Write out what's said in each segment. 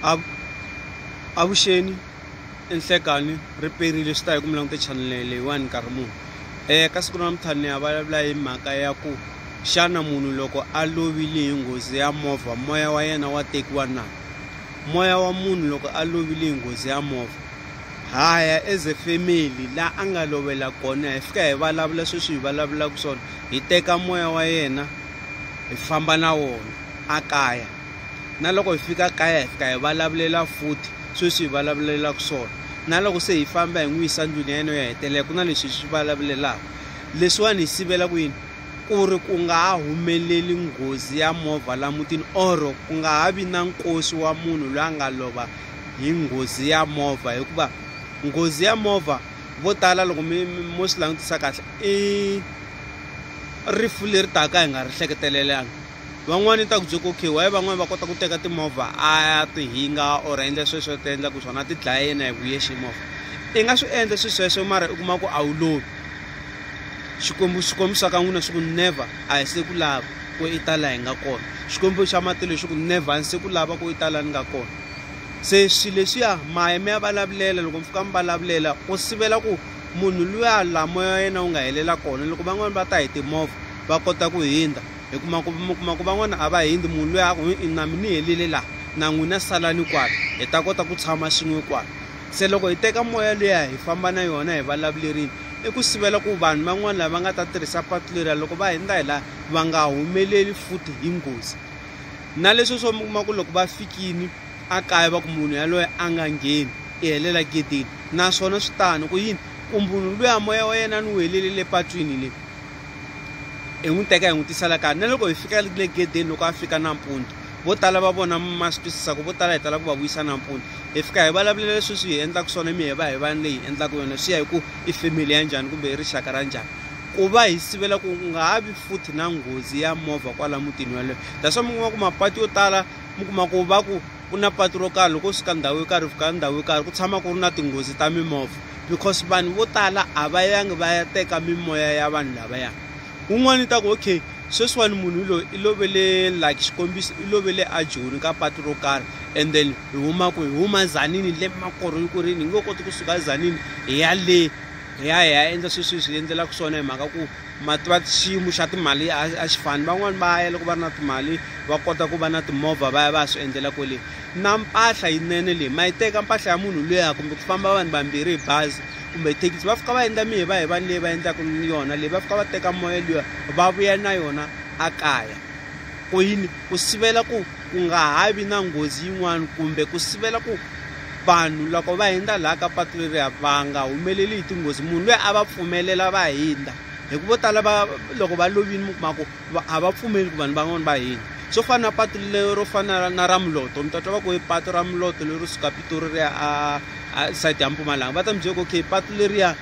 Avu, avuxeni nhlekanyi ri perile swi ta hi ku mi langute chanele leyiwani nkarhi muni um ka siku ra namuntlha ni ya vulavula hi mhaka ya ku xana munhu loko a lovile hi nghozi ya movha moya wa yena wa tekiwa na moya wa munhu loko a lovile hi nghozi ya movha ha ya as a family la a nga lovela kona hi fika hi vulavula sweswi hi vulavulaka swona hi teka moya wa yena hi famba na wona a kaya na loko hi fika kaya hi fika hi vulavulela futhi sweswi hi vulavulelaka swona na loko se hi famba hi n'wi yisa ndlwini ya yena yo hetelela ku na leswi hi swi vulavulelaka leswiwani hi sivela ku yini ku ri ku nga ha humeleli nghozi ya movha la mutini or ku nga ha vi na nkosi wa munhu loyi a nga lova hi nghozi ya movha hikuva nghozi ya movha vo tala loko mi mo swi langutisa kahle i rifu leri taka hi nga ri hleketelelanga van'wani ni ta ku byeka okay why van'wani va kota ku teka timovha a ti hinga or a endla sweswo ti endla ku swona a ti dlaya yena hi vuye xi movha i nga swi endla swi sweswo mara u kuma ku a wu lovi xikwembu xikwembu xa ka n'wina xi ku never a hi se ku lava ku i tala hi nga kona xikwembu xa matilo xi ku never a ni se ku lava ku i tala ni nga kona se swilo leswiya maye mi ya vulavulela loko mi fika mi vulavulela ku sivela ku munhu luya lamoya yena wu nga helela kona loko van'wani va ta hi timovha va kota ku hindza hi kuma ku mi kuma ku van'wana a va hindzi munhu loyi a ku i na mi ni helile laha na n'wina salani kwala hi ta kota ku tshama swin'we kwala se loko hi teka moya leya hi famba na yona hi vulavulerini i ku sivela ku vanhu van'wana lava nga ta tirhisa patu leriya loko va hindza hi laha va nga humeleli futhi hi nghozi na leswi swo mi kuma ku loko va fikini a kaya va ku munhu yaloye a nga ngheni i helela gedeni naswona swi tano ku yini ku munhu luya moya wa yena ni wu helelele patwini le hi n'wi teka hi n'wi tisa la kaya na loko hi fika le gedeni loko a fika nampundzu vo tala va vona ma swi twisisa ku vo tala hi tala ku va vuyisa nampundzu hi fika hi vulavulela leswi swi hi endlaka swona mi hi va hi vanhu leyi hi endlaka yona swi ya hi ku i family ya njhani kumbe i rixaka ra njhani ku va hi sivela ku nga ha vi futhi na nghozi ya movha kwala mutini waloyo that's why mi kuma ku mapatu yo tala mi kuma ku va ku ku na patu ro karhi loko u suka ndhawu yo karhi u fika ndhawu yo karhi ku tshama ku ri na tinghozi ta mimovha because vanhu vo tala a va yangi va ya teka mimoya ya vanhu lavaya un'wana i ta ku okay sweswiwani munhu i loyi i lovele like xikombiso i lovele a joni ka patu ro karhi and then hi huma ku hi huma zanini le makorho yi ku ri ni nge koti kusuka zanini hi ya le hi ya hi ya endla sweswi hi swi endlelaka swona hi mhaka ku ma tiva xiyimo xa timali a a xi fani van'wani va ya loko va ri na timali va kota ku va na timovha va ya va ya swi endlela kwele na mpahla yinene leyi ma yi teka mpahla ya munhu luya kumbe ku famba vanhu vambirhi hi bazi kumbe thekisi va fika va endla mi hi va hi vanhu leyi va endlaka yona leyi va fika va teka moya luya va vuya na yona a kaya ku yini ku sivela ku ku nga ha vi na nghozi yin'wana kumbe ku sivela ku vanhu loko va hundza laha ka patu leriya va nga humeleli hi tinghozi munhu loyi a va pfumelela va hundza hi ku vo tala va loko va lovini mi kuma ku a va pfumeli ku vanhu van'wana va hundza swo fana na patu lero fana na ra muloto mi ta twa va ku i patu ra muloto leri suka pitori riya a side ya mpumalanga va ta mi byela ku okay patu leriya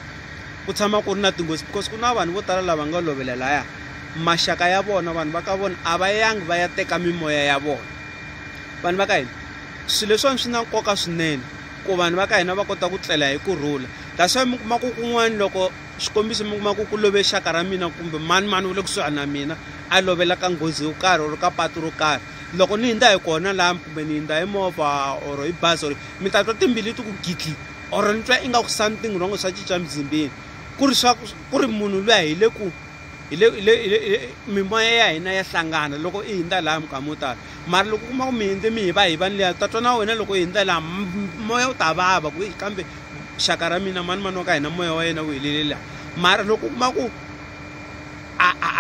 ku tshama ku ri na tinghozi because ku na vanhu vo tala lava nga lovela laya maxaka ya vona vanhu va ka vona a va yangi va ya teka mimoya ya vona vanhu va ka hina swilo leswiwani swi na nkoka swinene ku vanhu va ka hina va kota ku tlela hi kurhula kasi mi kuma ku kun'wana loko xikombiso mi kuma ku ku love xaka ra mina kumbe mani mani wu le kusuhani na mina a lovela ka nghozi yo karhi or ka patu ro karhi loko ni hindza hi kona laha kumbe ni hindza hi movha or hi bazi or mi ta twa timbili ti ku gidli or ni twa ingaku something wrong swa cinca mzimbeni ku ri swa ku ri munhu luya hi le ku hi le le le mimoya ya hina ya hlangana loko i hindza laha minkama yo tala mara loko u kuma ku mi hindze mi hi va hi vanhu leya ta twa na wena loko u hindza laha moya wu ta vava ku kambe xaka ra mina mani mani wa ka hina moya wa yena wu helele laha mara loko u kuma ku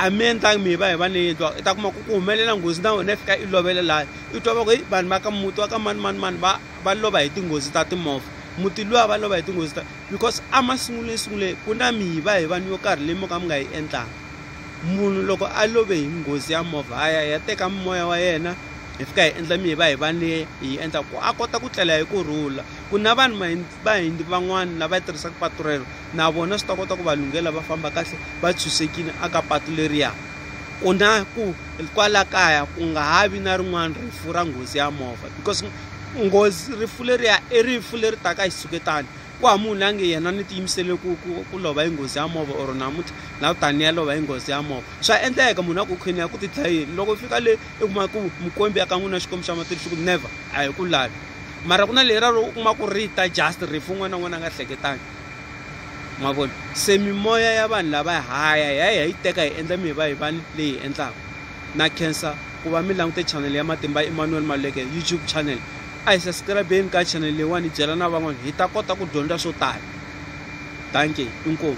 a mi endlangi mi hi va hi vanhu leyi endliwaka i ta kuma ku ku humelela nghozi na wena i fika i lovela laha i twa va ku heyi vanhu va ka muti wa ka mani mani mani va va lova hi tinghozi ta timovha muti luwa va lova hi tinghozi ta because a masungulweni sunguleni ku na mihiva hi vanhu yo karhi leyi mo ka mi nga yi endlanga munhu loko a love hi nghozi ya movha a ya ya teka moya wa yena hi fika hi endla mihiva hi va ni hi endla ku a kota ku tlela hi ku rhula ku na vanhu vahindi van'wana lava yi tirhisaka patu rero na vona swi ta kota ku va lunghela va famba kahle va tshunxekile aka patu leriya ku na ku kwala kaya ku nga ha vi na rin'wana rifu ra nghozi ya movha because nghozi rifu leriya i rifu leri taka hi xitshuketani ku ha munhu la nge yena ni tiyimisele ku ku ku lova hi nghozi ya movha or namuntlha la u tani ya lova hi nghozi ya movha swa endleka munhu a ku khweni ya ku ti dlayeni loko u fika le i kuma ku mukombi ya ka n'wina xikwembu xa matilo xi ku never a hi ku lavi mara ku na leyi ra loko u kuma ku ri ta just rifu un'wana na un'wana a nga hleketangi ma vona se mimoya ya vanhu lava haya hi ya hi ya yi teka hi endla mi hi va hi vani leyi hi endlaka Na khensa ku va mi langute channel ya Matimba Emmanuel Maluleke YouTube channel. A hi subscribe-eni ka channel leyiwani hi byela na van'wana hi ta kota ku dyondza swo tala. Dankie, inkomu.